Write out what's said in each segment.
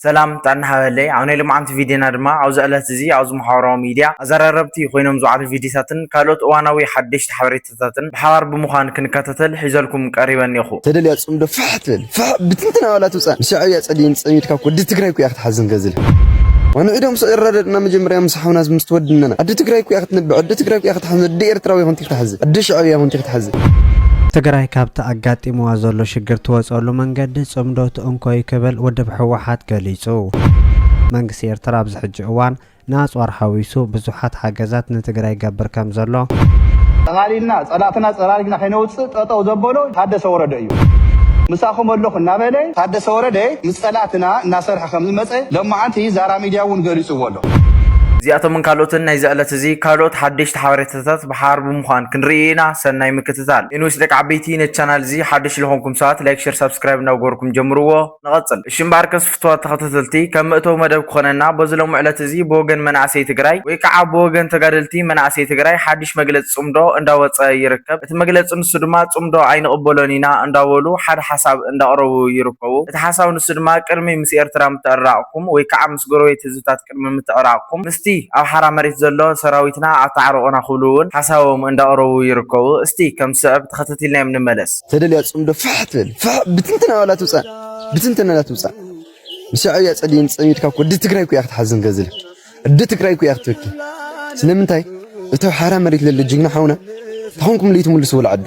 ሰላም ጥዕና ሃበለይ ኣብ ናይ ሎምዓንቲ ቪድዮና ድማ ኣብዚ ዕለት እዚ ኣብዚ መሓበራዊ ሚድያ ኣዘራረብቲ ኮይኖም ዝውዓሉ ቪድዮታትን ካልኦት እዋናዊ ሓደሽቲ ሓበሬታታትን ብሓባር ብምዃን ክንከታተል ሒዘልኩም ቀሪበ እኔኹ። ተደልያ ጽምዶ ፍሕ ትበል ፍሕ ብትንትና ዋላ ትውጻእ ምስ ሻዕብያ ጸሊእን ጸሚድካ እኮ ወዲ ትግራይ እኮ ኢያ ክትሓዝን ገዝል ዋና ዒዶም ስዕ ይረዳድእና መጀመርያ ምስ ሓውና ምስ ትወድነና ኣደ ትግራይ እኮ ኢያ ክትነብዕ ኣደ ትግራይ እኮ ኢያ ክትሓዝን ኣደ ኤርትራዊ ኮንቲ ክትሓዝን ኣደ ሻዕብያ ኮንቲ ክትሓዝን ትግራይ ካብቲ ኣጋጢምዋ ዘሎ ሽግር ትወፀሉ መንገዲ ፅምዶ ክኣቱ እንኮዩ ክብል ውድብ ህወሓት ገሊፁ። መንግስቲ ኤርትራ ኣብዚ ሕጂ እዋን ንኣፅዋር ሓዊሱ ብዙሓት ሓገዛት ንትግራይ ይገብር ከም ዘሎ፣ ጠቓሊልና ፀላእትና ፀራሪግና ከይነውፅእ ጠጠው ዘበሎ ታደሰ ወረደ እዩ። ምሳኹም ኣለኹ እናበለ ታደሰ ወረደ ምስ ፀላእትና እናሰርሐ ከም ዝመፀ ሎማዓንቲ ዛራ ሚድያ እውን ገሊፁዎ ኣሎ። እዚኣቶምን ካልኦትን ናይዚ ዕለት እዚ ካልኦት ሓደሽቲ ሓበሬታታት ኣርእስታት ብሓባር ብምዃን ክንርኢ ኢና ሰናይ ምክትታል። ኤንዌስ ደቂ ዓበይቲ ነቲ ቻናል እዚ ሓደሽ ልኾንኩም ሰባት ላይክ ሸር ሳብስክራይብ እናገበርኩም ጀምርዎ ንቐጽል። እሺ እምበኣርከስ ፍቱዋት ተኸታተልቲ ከም መእተዊ መደብ ክኾነና በዚ ሎሚ ዕለት እዚ ብወገን መናእሰይ ትግራይ ወይ ካዓ ብወገን ተጋደልቲ መናእሰይ ትግራይ ሓድሽ መግለፂ ፅምዶ እንዳወፀ ይርከብ እቲ መግለፂ ንሱ ድማ ፅምዶ ኣይንቕበሎን ኢና እንዳበሉ ሓደ ሓሳብ እንዳቕረቡ ይርከቡ እቲ ሓሳብ ንሱ ድማ ቅድሚ ምስ ኤርትራ ምትዕርራቕኩም ወይ ካዓ ምስ ጎረቤት ህዝብታት ቅድሚ ምትዕራቕኩም ምስቲ ኣብ ሓራ መሬት ዘሎ ሰራዊትና ኣተዓርቑና ክብሉ እውን ሓሳቦም እንዳቕረቡ ይርከቡ። እስቲ ከም ዝስዕብ ተኸታቲልናዮም ንመለስ። ተደልያ ጽምዶ ፋሕ ትበል ፋሕ ብትንትን ኣባላ ትውጻእ ብትንትን ኣባላ ትውጻእ ምስ ሻዕብያ ጸሊእን ጸሚድካ እኮ ኣዲ ትግራይ እኮ ኢያ ክትሓዝን ገዝላ ኣዲ ትግራይ እኮ ኢያ ክትበኪ ስለምንታይ እቲ ኣብ ሓራ መሬት ለሎ ጅግና ሓውና ተኾንኩም ለይትምልስዎ ልዓዱ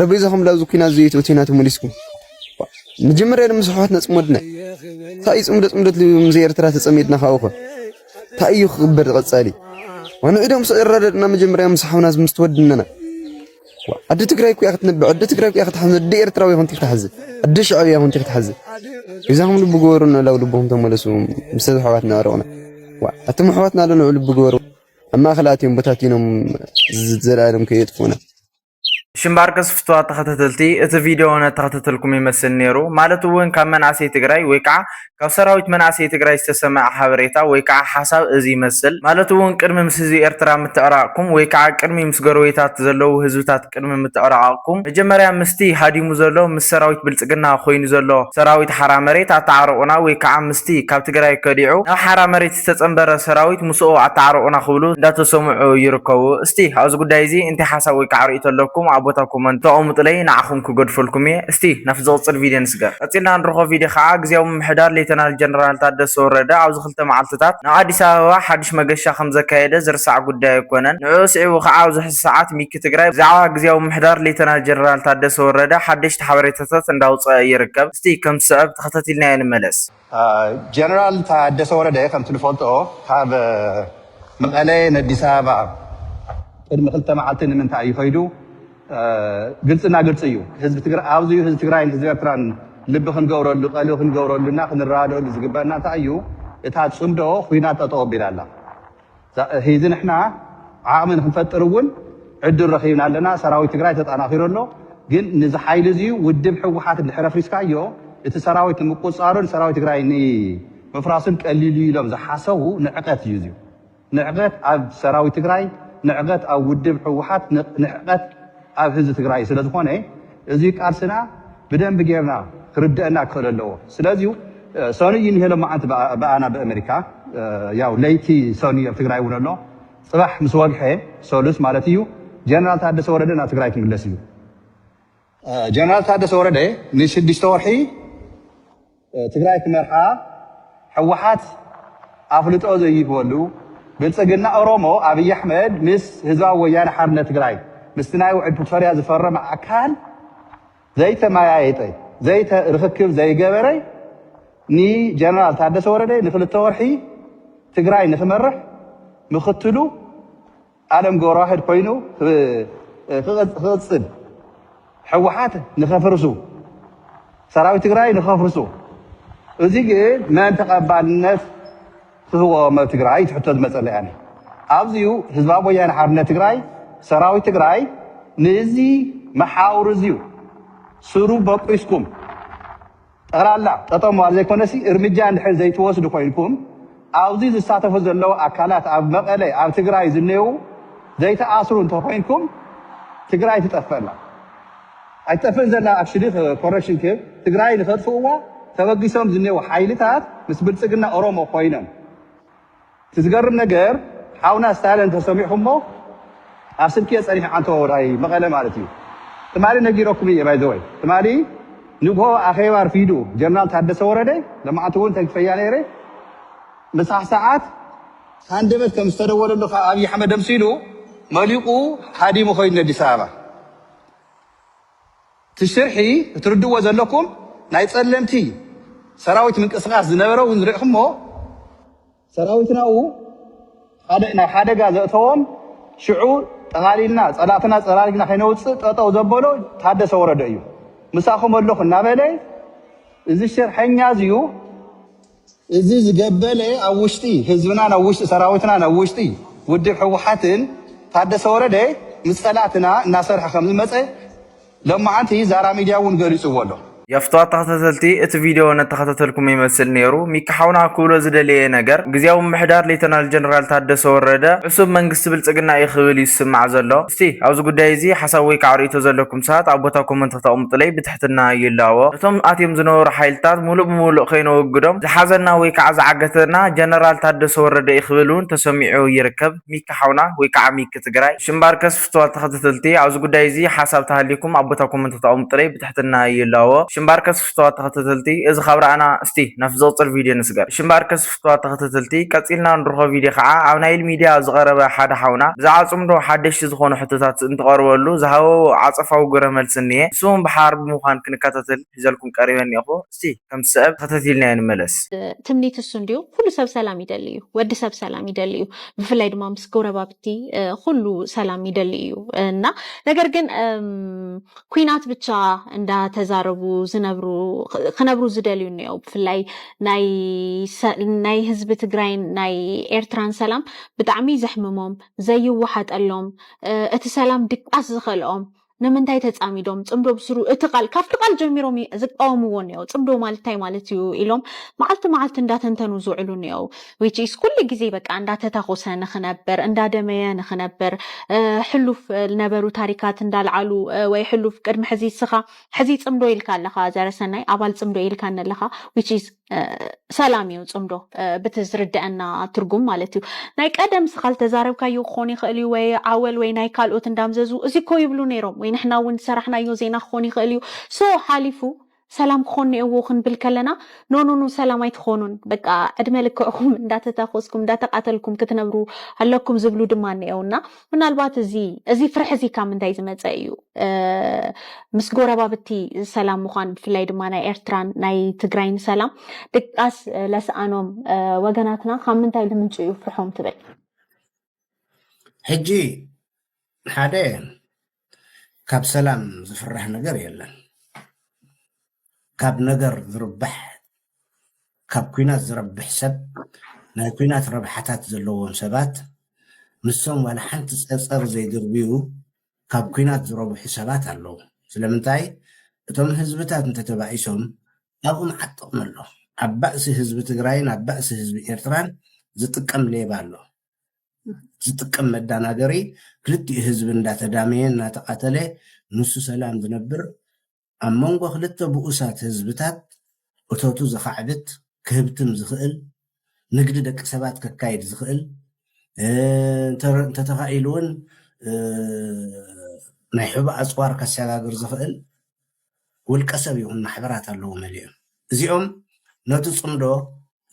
ረቢ ይዘኹም ላብዚ ኩናት ዘዩት እቲናት ሙሊስኩም መጀመርያ ድማ ስሑዋት ነጽመድነ ታእዩ ጽምዶ ጽምዶት ልብምዘ ኤርትራ ተጸሚድና ካውኸ ታእዩ ክቕበር ቐጻሊ ዋንዒዶም ስዕረደድና መጀመርያ ምስ ሓውና ምስተወድነና ኣደ ትግራይ ኩያ ክትነብዕ ኣደ ትግራይ ኩያ ክትሓዝ ኣደ ኤርትራዊ ኮንቲ ክትሓዝ ኣደ ሻዕብያ ኮንቲ ክትሓዝ እዛኹም ልቢ ገበሩ ንላው ልብኹም ተመለሱ ምስ ኣሕዋት ንዕረቕና ኣቶም ኣሕዋትና ኣለንዑ ልቢ ገበሩ ኣብ ማእኸል ኣትዮም ቦታቲኖም ዘለኣለም ከየጥፉና ሽምባርቅስ ፍትዋት ተኸታተልቲ እቲ ቪድዮ ነተኸታተልኩም ይመስል ኔሩ ማለት እውን ካብ መናእሰይ ትግራይ ወይ ከዓ ካብ ሰራዊት መናእሰይ ትግራይ ዝተሰመዐ ሓበሬታ ወይ ከዓ ሓሳብ እዚ ይመስል ማለት እውን ቅድሚ ምስ ህዝቢ ኤርትራ ምትዕራቕኩም ወይ ከዓ ቅድሚ ምስ ጎረቤታት ዘለዉ ህዝብታት ቅድሚ ምትዕራቕኩም መጀመርያ ምስቲ ሃዲሙ ዘሎ ምስ ሰራዊት ብልፅግና ኮይኑ ዘሎ ሰራዊት ሓራ መሬት ኣተዓርቑና ወይ ከዓ ምስቲ ካብ ትግራይ ከዲዑ ናብ ሓራ መሬት ዝተፀምበረ ሰራዊት ምስኡ ኣታዓርቑና ክብሉ እንዳተሰምዑ ይርከቡ። እስቲ ኣብዚ ጉዳይ እዚ እንታይ ሓሳብ ወይ ከዓ ርእይቶ ኣለኩም ኣብ ቦታ ኮመንት ተቐሙጡለይ ንዓኹም ክገድፈልኩም እየ። እስቲ ናብቲ ዝቕፅል ቪድዮ ንስገር። ቀፂልና ንረኽቦ ቪድዮ ከዓ ግዝያዊ ምምሕዳር ሌተናል ጀነራል ታደሰ ወረደ ኣብዚ ክልተ መዓልቲታት ናብ ኣዲስ ኣበባ ሓዱሽ መገሻ ከምዘካየደ ዝርሳዕ ጉዳይ ኣይኮነን። ንዕኡ ኣስዒቡ ከዓ ኣብዚ ሕዚ ሰዓት ሚኪ ትግራይ ብዛዕባ ግዝያዊ ምምሕዳር ሌተናል ጀነራል ታደሰ ወረደ ሓደሽቲ ሓበሬታታት እንዳውፀኣ ይርከብ። እስቲ ከም ዝስዕብ ተኸታቲልናዮ ንመለስ። ጀነራል ታደሰ ወረደ ከምቲ ንፈልጦ ካብ መቐለ ነዲስ ኣበባ ቅድሚ ክልተ መዓልቲ ንምንታይ እዩ ከይዱ ግልፅና ግልፂ እዩ። ህዝቢ ትግራይ ኣብዚ እዩ ህዝቢ ትግራይን ህዝቢ ኤርትራን ልቢ ክንገብረሉ ቀልቢ ክንገብረሉና ክንረዳደኣሉ ዝግበእና እንታይ እዩ እታ ፅምዶ ኹናት ጠጠው ኣቢላ ኣላ። ሂዚ ንሕና ዓቕሚ ንክንፈጥር እውን ዕድል ረኺብና ኣለና። ሰራዊት ትግራይ ተጣናኺሩ ኣሎ። ግን ንዚ ሓይሊ እዚ ውድብ ህወሓት እንድሕር ኣፍሪስካዮ እቲ ሰራዊት ንምቁፅፃሩን ሰራዊት ትግራይ ንምፍራሱን ቀሊል እዩ ኢሎም ዝሓሰቡ ንዕቐት እዩ እዚዩ። ንዕቐት ኣብ ሰራዊት ትግራይ፣ ንዕቐት ኣብ ውድብ ህወሓት፣ ንዕቐት ኣብ ህዝቢ ትግራይ ስለዝኾነ እዚ ቃልስና ብደንቢ ጌርና ክርደእና ክክእል ኣለዎ ስለዚ ሰኑይ እዩ እኒሄ ሎማዓንቲ ብኣና ብእመሪካ ያው ለይቲ ሰኑይ ኣብ ትግራይ እውን ኣሎ ፅባሕ ምስ ወግሐ ሰሉስ ማለት እዩ ጀነራል ታደሰ ወረደ ናብ ትግራይ ክምለስ እዩ ጀነራል ታደሰ ወረደ ንሽዱሽተ ወርሒ ትግራይ ክመርሓ ሕወሓት ኣፍልጦ ዘይህበሉ ብልፅግና ኦሮሞ ኣብይ ኣሕመድ ምስ ህዝባዊ ወያነ ሓርነት ትግራይ ምስቲ ናይ ውዕል ፕሪቶርያ ዝፈረመ ኣካል ዘይተመያየጠ ዘይተ ርክክብ ዘይገበረ ንጀነራል ታደሰ ወረደ ንክልተ ወርሒ ትግራይ ንክመርሕ ምክትሉ ኣለም ገብረዋህድ ኮይኑ ክቕፅል ሕወሓት ንከፍርሱ ሰራዊት ትግራይ ንከፍርሱ እዚ ግን መን ተቐባልነት ክህቦም ኣብ ትግራይ ትሕቶ ዝመፀለ ያለ ኣብዚዩ ህዝባዊ ወያነ ሓርነት ትግራይ ሰራዊት ትግራይ ንዚ መሓውር እዚዩ ስሩ በቂስኩም ጠቕላላ ጠጠው ምባል ዘይኮነሲ እርምጃ እንድሕር ዘይትወስዱ ኮይንኩም ኣብዚ ዝሳተፉ ዘለዉ ኣካላት ኣብ መቐለ ኣብ ትግራይ ዝኔዉ ዘይትኣስሩ እንተኾይንኩም ትግራይ ትጠፍእ ኣላ ኣይትጠፍእን ዘላ ኣክሽሊ ኮረክሽን ክብ ትግራይ ንኸጥፍእዋ ተበጊሶም ዝኔዉ ሓይልታት ምስ ብልፅግና ኦሮሞ ኮይኖም እቲ ዝገርም ነገር ሓውና ስታሊን እንተሰሚዕኹሞ ኣብ ስልኪ እየ ፀኒሐ ዓንተቦ ናይ መቐለ ማለት እዩ ትማሊ ነጊረኩም እየ ባይ ዘ ወይ ትማሊ ንግሆ ኣኼባ ኣርፊዱ ጀነራል ታደሰ ወረደ ለማዓንቲ እውን ተንኪፈያ ነይረ ምሳሕ ሰዓት ሃንደበት ከም ዝተደወለሉ ካብ ኣብይ ኣሕመድ ደምሲሉ መሊቁ ሃዲሙ ኮይኑ ነዲስ ኣበባ። እቲ ሽርሒ እትርድእዎ ዘለኩም ናይ ጸለምቲ ሰራዊት ምንቅስቃስ ዝነበረ ውን ሪእክሞ ሰራዊትና ብ ሓደ ናብ ሓደጋ ዘእተዎም ሽዑ ጠቃሊልና ጸላእትና ጸራሪግና ከይነውጽእ ጠጠው ዘበሎ ታደሰ ወረደ እዩ ምሳኩም ኣለኩ እናበለ እዚ ሽርሐኛ እዚዩ እዚ ዝገበለ ኣብ ውሽጢ ህዝብናን ኣብ ውሽጢ ሰራዊትናን ኣብ ውሽጢ ውድብ ህወሓትን ታደሰ ወረደ ምስ ፀላእትና እናሰርሐ ከምዝመፀ ሎማዓንቲ ዛራ ሚድያ እውን ገሊፅዎ ኣሎ። የፍትዋ ተኸታተልቲ እቲ ቪድዮ ነተኸታተልኩሞ ይመስል ኔሩ ሚኪ ሓውና ክብሎ ዝደለየ ነገር ግዝያዊ ምምሕዳር ሌተናል ጀነራል ታደሰ ወረደ ዕሱብ መንግስቲ ብልጽግና እዩ ክብል እዩ ዝስማዕ ዘሎ እስቲ ኣብዚ ጉዳይ እዚ ሓሳብ ወይካዓ ርእይቶ ዘለኩም ሰባት ኣብ ቦታ ኮመንት ክተቅምጡለይ ትሕትና ይላቦ ነቶም ኣትዮም ዝነበሩ ሓይልታት ሙሉእ ብሙሉእ ከይነወግዶም ዝሓዘና ወይ ከዓ ዝዓገተና ጀነራል ታደሰ ወረደ እዩ ክብል እውን ተሰሚዑ ይርከብ ሚኪ ሓውና ወይ ከዓ ሚኪ ትግራይ። እሺ እምበኣርከስ ፍትዋት ተኸተተልቲ ኣብዚ ጉዳይ እዙይ ሓሳብ ተሃልዩኩም ኣብ ቦታ ኮመንት ተቐምጡለይ ብትሕትና ይላቦ እሺ እምበኣርከስ ፍትዋት ተኸተተልቲ እዚ ካብ ረኣና እስቲ ናብቲ ዝቕፅል ቪድዮ ንስገር እሺ እምበኣርከስ ጽቡቃት ተኸተተልቲ ቀጺልና ንርኾ ቪድዮ ከኣ ኣብ ናይል ሚድያ ዝቐረበ ሓደ ሓውና ብዛዕባ ጽምዶ ሓደሽቲ ዝኾኑ ሕቶታት እንትቐርበሉ ዝሃቦ ዓጸፋዊ ግብረ መልሲ እንሄ ንሱውን ብሓባር ብምዃን ክንከታተል ሒዘልኩም ቀሪበ እንኤኹ እስቲ ከምቲ ሰእብ ተኸተቲልናዮ ንመለስ። ትምኒት እሱ እንድዩ ኩሉ ሰብ ሰላም ይደሊ እዩ ወዲ ሰብ ሰላም ይደሊ እዩ ብፍላይ ድማ ምስ ጎረባብቲ ኩሉ ሰላም ይደሊ እዩ እና ነገር ግን ኩናት ብቻ እንዳ ተዛረቡ ዝነብሩ ክነብሩ ዝደልዩ እኒኦ ብፍላይ ናይ ህዝቢ ትግራይን ናይ ኤርትራን ሰላም ብጣዕሚ ዘሕምሞም ዘይወሓጠሎም እቲ ሰላም ድቃስ ዝኸልኦም ንምንታይ ተፃሚዶም ፅምዶ ብስሩ እቲ ቃል ካብቲ ቃል ጀሚሮም ዝቃወምዎ እኒኦ ፅምዶ ማለት እንታይ ማለት እዩ ኢሎም መዓልቲ መዓልቲ እንዳተንተኑ ዝውዕሉ እኒኦ which is ኩሉ ግዜ በቃ እንዳተታኾሰ ንኽነብር እንዳደመየ ንኽነብር ሕሉፍ ልነበሩ ታሪካት እንዳልዓሉ ወይ ሕሉፍ ቅድሚ ሕዚ እስኻ ሕዚ ጽምዶ ኢልካ ኣለኻ ዘረሰናይ ኣባል ጽምዶ ኢልካ ኣለኻ which is ሰላም እዩ ጽምዶ ብቲ ዝርደአና ትርጉም ማለት እዩ ናይ ቀደም ስኻ ዝተዛረብካዮ ክኾን ይኽእል እዩ ወይ ዓወል ወይ ናይ ካልኦት እንዳምዘዙ እዚ እኮ ይብሉ ነይሮም ወይ ንሕና እውን ዝሰራሕናዮ ዜና ክኾን ይኽእል እዩ ሶ ሓሊፉ ሰላም ክኮን ኔኤዎ ክንብል ከለና ኖኖኖ ሰላም ኣይትኮኑን በቃ ዕድመ ልክዕኩም እንዳተታኮስኩም እንዳተቃተልኩም ክትነብሩ ኣለኩም ዝብሉ ድማ ኔኤው እና ምናልባት እዚ እዚ ፍርሒ እዚ ካብ ምንታይ ዝመጸ እዩ ምስ ጎረባብቲ ሰላም ምኳን ብፍላይ ድማ ናይ ኤርትራን ናይ ትግራይን ሰላም ድቃስ ለስኣኖም ወገናትና ካብ ምንታይ ልምንጩ እዩ ፍርሖም ትብል ሕጂ ሓደ ካብ ሰላም ዝፍራሕ ነገር የለን ካብ ነገር ዝርባሕ ካብ ኩናት ዝረብሕ ሰብ ናይ ኩናት ረብሓታት ዘለዎም ሰባት ንሶም ዋላ ሓንቲ ፀፀር ዘይድርብዩ ካብ ኩናት ዝረብሑ ሰባት ኣለዉ ስለምንታይ እቶም ህዝብታት እንተተባኢሶም ኣብኡ መዓት ጥቕሚ ኣሎ ኣብ ባእሲ ህዝቢ ትግራይን ኣብ ባእሲ ህዝቢ ኤርትራን ዝጥቀም ሌባ ኣሎ ዝጥቀም መዳናገሪ ክልቲኡ ህዝቢ እንዳተዳመየ እናተቃተለ ንሱ ሰላም ዝነብር ኣብ መንጎ ክልተ ብኡሳት ህዝብታት እቶቱ ዘኻዕብት ክህብትም ዝኽእል ንግዲ ደቂ ሰባት ከካይድ ዝኽእል እንተተኻኢሉ እውን ናይ ሕቡእ ኣፅዋር ከሰጋግር ዝኽእል ውልቀሰብ ይኹን ማሕበራት ኣለዉ መሊኦም እዚኦም ነቲ ጽምዶ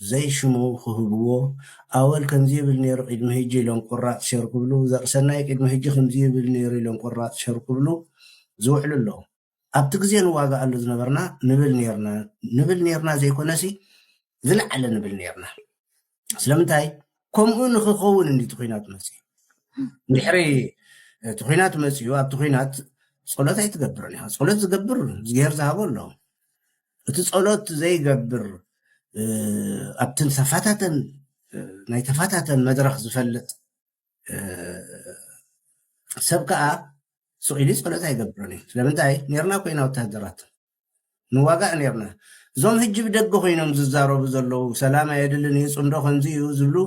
ዘይ ሽሙ ክህብዎ ኣወል ከምዚ ይብል ኔሩ ቂድሚ ህጂ ኢሎም ቁራጽ ሸር ክብሉ ዘርእሰናይ ቂድሚ ህጂ ክምዚ ይብል ኔሩ ኢሎም ቁራጽ ሸር ክብሉ ዝውዕሉ ኣለዉ ኣብቲ ግዜ ንዋጋኣሉ ዝነበርና ንብል ኔርና ንብል ኔርና ዘይኮነሲ ዝለዓለ ንብል ኔርና። ስለምንታይ ከምኡ ንክኸውን እንዲ ትኩናት መፅኡ ድሕሪ እቲ ኩናት መፅኡ ኣብቲ ኩናት ፀሎት ኣይትገብርን ኢኻ ፀሎት ዝገብር ዝገር ዝሃቦ ኣሎ እቲ ፀሎት ዘይገብር ኣብቲ ተፋታተን ናይ ተፋታተን መድረክ ዝፈልጥ ሰብ ከዓ ስቂሉ ፀሎት ኣይገብርን እዩ ስለምንታይ ነርና ኮይና ወታሃደራት ንዋጋእ ኔርና እዞም ህጂ ብደገ ኮይኖም ዝዛረቡ ዘለዉ ሰላም ኣየድልን ኢዩ ጽምዶ ከምዚ ኢዩ ዝብሉ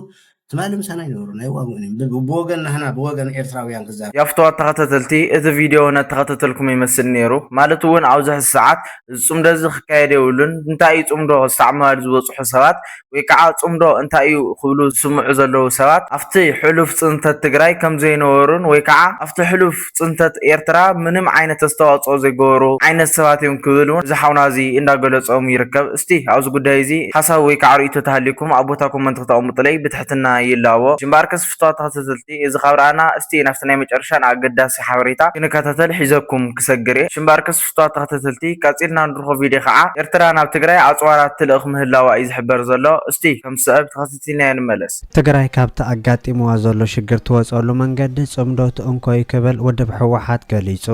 ትማሊ ምሳና ኣይነበሩን ኣይዋግኡን ኢዮም ብ ብወገን ናህና ብወገን ኤርትራውያን ክዛረቡ ያፍትዋ ተኸተተልቲ እቲ ቪድዮ ነተኸተተልኩም ይመስል ኔሩ ማለት ውን ኣብዙ ሕዚ ሰዓት እዚ ጽምዶ እዚ ክካየድ የብሉን እንታይ እዩ ጽምዶ ክሳዕ ምባል ዝበጽሑ ሰባት ወይ ከዓ ፅምዶ እንታይ እዩ ክብሉ ዝስምዑ ዘለዉ ሰባት ኣፍቲ ሕሉፍ ፅንተት ትግራይ ከምዘይነበሩን ወይ ከዓ ኣፍቲ ሕሉፍ ፅንተት ኤርትራ ምንም ዓይነት ኣስተዋፅኦ ዘይገበሩ ዓይነት ሰባት እዮም ክብል እውን እዚ ሓውና እዚ እንዳገለፆም ይርከብ። እስቲ ኣብዚ ጉዳይ እዚ ሓሳብ ወይ ከዓ ርኢቶ ተሃልዩኩም ኣብ ቦታ ኮመንት ክተቐምጡለይ ብትሕትና ይላቦ። እምበኣርከስ ፍትዋት ተኸተተልቲ እዚ ካብ ረኣና እስቲ ናፍቲ ናይ መጨረሻ ንኣገዳሲ ሓበሬታ ክንከታተል ሒዘኩም ክሰግር እየ። እምበኣርከስ። ጽቱታት ተኸተተልቲ ቀጺልና ንርኾ ቪድዮ ከኣ ኤርትራ ናብ ትግራይ ኣጽዋራት ትልእኽ ምህላዋ እዩ ዝሕበር ዘሎ እስቲ ከም ዝስዕብ ተኸተቲልናዮ ንመለስ። ትግራይ ካብቲ ኣጋጢምዋ ዘሎ ሽግር ትወጽኣሉ መንገዲ ጽምዶ ትእንኮዩ ክብል ውድብ ህወሓት ገሊጹ።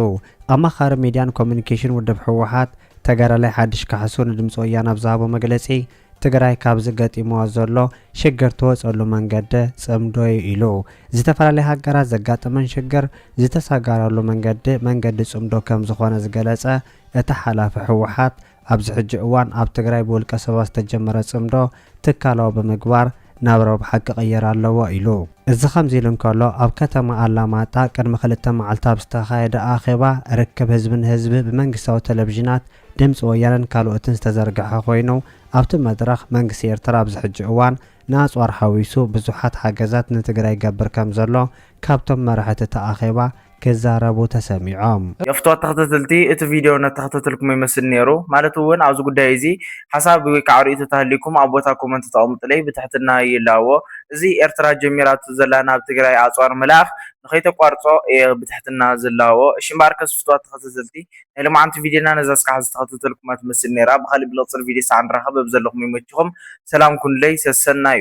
ኣማኻሪ ሚድያን ኮሙዩኒኬሽን ውድብ ህወሓት ተጋዳላይ ሓድሽ ካሕሱ ንድምጺ ወያነ ኣብ ዝሃቦ መግለጺ፣ ትግራይ ካብዚ ገጢምዎ ዘሎ ሽግር ትወፀሉ መንገዲ ፅምዶ ዩ ኢሉ። ዝተፈላለያ ሃገራት ዘጋጥመን ሽግር ዝተሳጋራሉ መንገዲ መንገዲ ፅምዶ ከምዝኾነ ዝገለፀ እቲ ሓላፊ ህወሓት ኣብዚ ሕጂ እዋን ኣብ ትግራይ ብውልቀ ሰባት ዝተጀመረ ፅምዶ ትካላዊ ብምግባር ናብ ረብሓ ክቕየር ኣለዎ ኢሉ። እዚ ከምዚ ኢሉ እንከሎ ኣብ ከተማ ኣላማጣ ቅድሚ ክልተ መዓልቲ ኣብ ዝተኻየደ ኣኼባ ርክብ ህዝቢ ንህዝቢ ብመንግስታዊ ቴሌቪዥናት ድምጺ ወያነን ካልኦትን ዝተዘርግሐ ኮይኑ፣ ኣብቲ መድረኽ መንግስቲ ኤርትራ ኣብዚ ሕጂ እዋን ንኣጽዋር ሓዊሱ ብዙሓት ሓገዛት ንትግራይ ይገብር ከምዘሎ ካብቶም መራሕቲ እቲ ኣኼባ ክዛረቡ ተሰሚዖም። የፍትዋ ተኸተተልቲ እቲ ቪድዮ ነተኸተተልኩሞ ይመስል ኔሩ ማለት ውን ኣብዚ ጉዳይ እዚ ሓሳብ ወይ ካዓ ሪኢቶ ተሃሊኩም ኣብ ቦታ ኮመንት ተቀምጡለይ ብትሕትና ይላቦ እዚ ኤርትራ ጀሚራቶ ዘላ ናብ ትግራይ ኣፅዋር ምልኣኽ ንከይተቋርፆ እየ ብትሕትና ዝላቦ እሺ እምበኣርከስ ፍትዋት ተኸተተልቲ ናይ ሎማዓንቲ ቪድዮና ነዛ እስካዕ ዝተከታተልኩማ ትመስል ነይራ ብካሊእ ብልቅፅል ቪድዮ ሳዕ ንራከብ በብዘለኩሞ ይመችኩም ሰላም ኩኑለይ ሰሰናዩ።